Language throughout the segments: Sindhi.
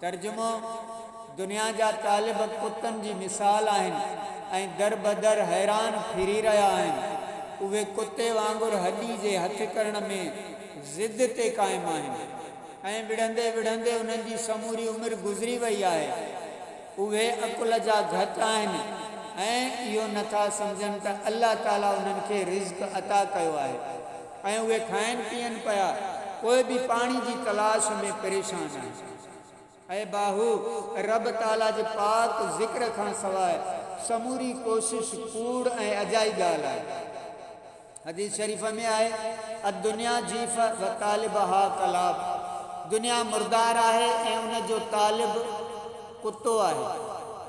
ترجمو، دنيا جا طالب ڪتن جي مثال آهن ۽ دربدر حيران ڦري رهيا آهن. اهي ڪتي وانگر هڏي جي هٿ ڪرڻ ۾ ضد تي قائم آهن. ائين وڙهندي وڙهندي انهن جي سموري عمر گذري وئي آهي. اهي عقل جا گهٽ آهن ۽ اهو نٿا سمجهن ته الله تعاليٰ انهن کي رزق عطا ڪيو آهي. ۽ اهي کائن پيئن پيا پوء به پاڻي جي تلاش ۾ پريشان آهن. اي باهو! رب تعاليٰ جي پاڪ ذڪر کان سواء سموري ڪوشش ڪوڙ ۽ اجائي ڳالهه آهي. حديث شريف ۾ آهي، الدنيا جيفة وطالبها ڪلاب، دنيا مردار آهي ۽ ان جو طالب ڪتو آهي.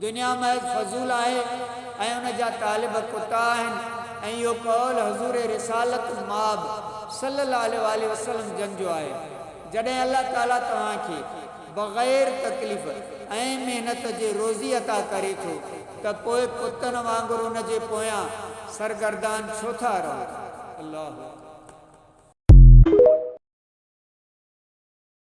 دنيا محض فضول آهي ۽ ان جا طالب ڪتا آهن ۽ اهو قول حضور رسالت مآب صلّي الله عليه واٰله وسلّم جن جو آهي، جڏهن الله تعاليٰ توهان کي بغير تڪليف ۽ محنت جي روزي عطا ڪري ٿو ته پوء ڪتن وانگر ان جي پويان سرگردان ڇو ٿا رهو؟ الله اڪبر.